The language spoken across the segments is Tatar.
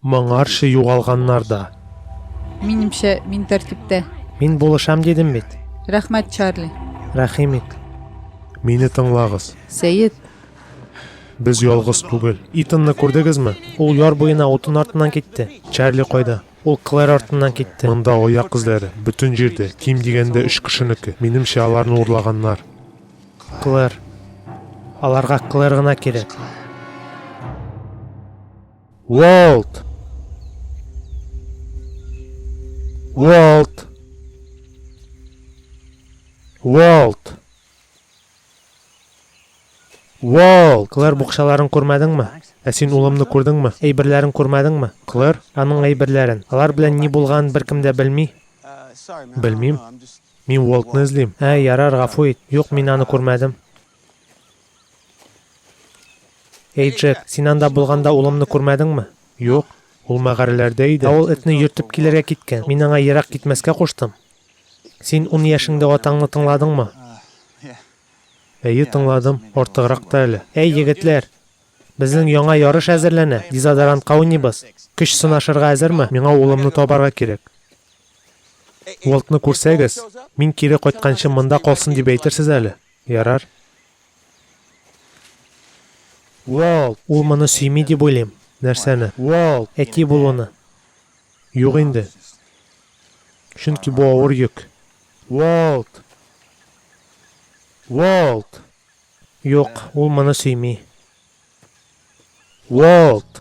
Моңарчы югалганнар да. Минемчә, мин тәртиптә. Мин булышам дидем бит. Рәхмәт, Чарли. Рәхим ит. Мине тыңлагыз. Сәет. Без ялгыз түгел. Итанны күрдегезме? Ул яр буена утын артыннан китте. Чарли кайда? Ул Клэр артыннан китте. Монда аяк эзләре, бөтен җирдә, ким дигәндә өч кешенеке. Минемчә, аларны урлаганнар. Клэр. Аларга Клэр гына кирәк. Уолт! Уолт! Уолт! Уолт! Клэр букчаларын күрмәдеңме? Ә син улымны күрдеңме? Әйберләрен күрмәдеңме? Клэр, аның әйберләрен. Алар белән ни булган беркем дә белми. Белмим. Мин Уолтны эзлим. Ә, ярар, гафу ит. Юк, мин аны күрмәдем. Эй, Джек, син анда булганда улымны күрмәдеңме? Юк, ул мәгарәләрдә иде. Ә ул этне йөртеп килергә киткән. Мин аңа ерак китмәскә куштым. Син ун яшеңдә атаңны тыңладыңмы? Әйе, тыңладым, артыграк та әле. Әй, егетләр, безнең яңа ярыш әзерләнә, дезодорантка уйныйбыз. Көч сынашырга әзерме? Миңа улымны табарга кирәк. Уолтны күрсәгез, мин кире кайтканчы монда калсын дип әйтерсез әле. Ярар. Уолт! Ул моны сөйми дип уйлыйм. Нәрсәне? Уолт! Әти булуны. Юк инде. Чөнки бу авыр йөк. Уолт! Уолт! Юк, ул моны сөйми. Уолт!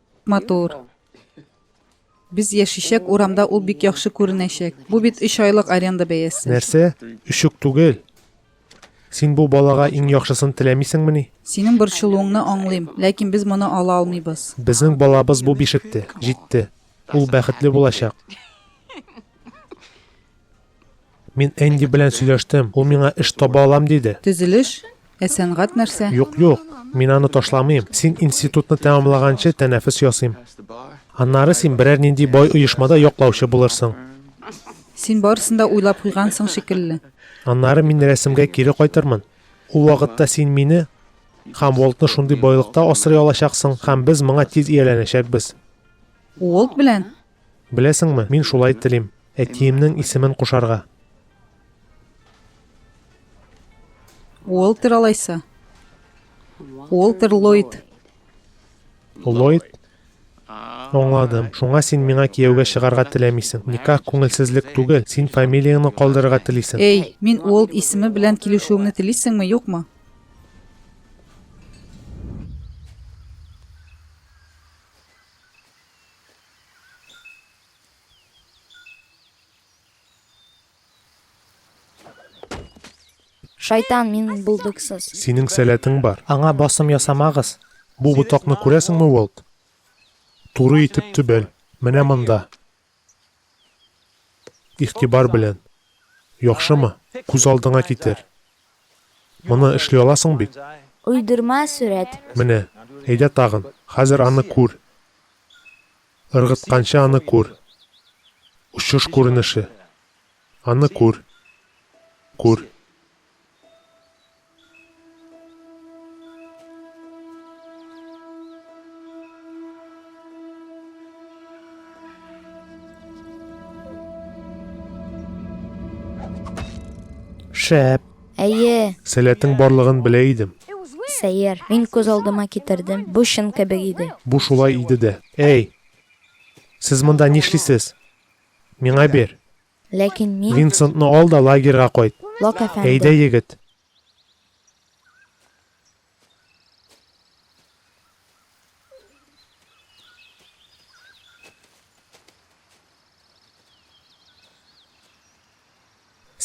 Матур. Без яшичәк урамда ул бик яхшы күренәчәк. Бу бит өч айлык аренда бәясе. Нәрсә? Өч үк түгел. Син бу балага иң яхшысын теләмисеңмени? Синең борчылуыңны аңлыйм, ләкин без моны ала алмыйбыз. Безнең балабыз бу бишекте, җитте. Ул бәхетле булачак. Мин Энди белән сөйләштем. Ул миңа эш таба алам диде. Төзелеш? Ә сәнгать нәрсә? Юк, юк. Мин аны ташламыйм. Син институтны тәмамлаганчы тәнәфес ясыйм. Аннары син берәр нинди бай оешмада яклаучы булырсың. Син барысын да уйлап куйгансың шикелле. Аннары мин рәсемгә кире кайтырмын. Ул вакытта син мине һәм Волтны шундый байлыкта асрый алачаксың, һәм без моңа тиз ияләнәчәкбез. Уолт белән? Беләсеңме, мин шулай телим, әтиемнең исемен кушарга. Уолтер алайса. Уолтер Ллойд. Ллойд? Аңладым. Шуңа син миңа кияүгә чыгарга теләмисең. Никах күңелсезлек түгел, син фамилияңне калдырырга телисең. Эй, мин Уолт исеме белән килешүеңне телисеңме, юкмы? Шайтан, мин булдыксыз. Синең сәләтең бар. Аңа басым ясамагыз. Бу ботакны күрәсеңме, Уолт? Туры итеп төбәл. Менә монда. Игътибар белән. Яхшымы? Күз алдыңа китер. Моны эшли аласың бит? Уйдырма сурәт. Менә. Әйдә тагын. Хәзер аны күр. Ыргытканчы аны күр. Очыш күренеше. Аны күр. Күр. Шәп. Әйе. Сәләтең барлыгын белә идем. Сәер. Мин күз алдыма китердем. Бу чын кебек иде. Бу шулай иде дә. Әй. Сез монда нишлисез? Миңа бир. Ләкин мин. Винсентны ал да лагерьга кайт. Лок әфәнде. Әйдә, егет.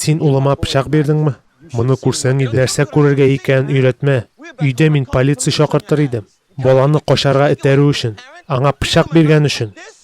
Син улыма пычак бирдеңме? Моны күрсәң иде. Нәрсә күрергә икәнен өйрәтмә. Өйдә мин полиция чакыртыр идем. Баланы качарга этәрү өчен. Аңа пычак биргән өчен.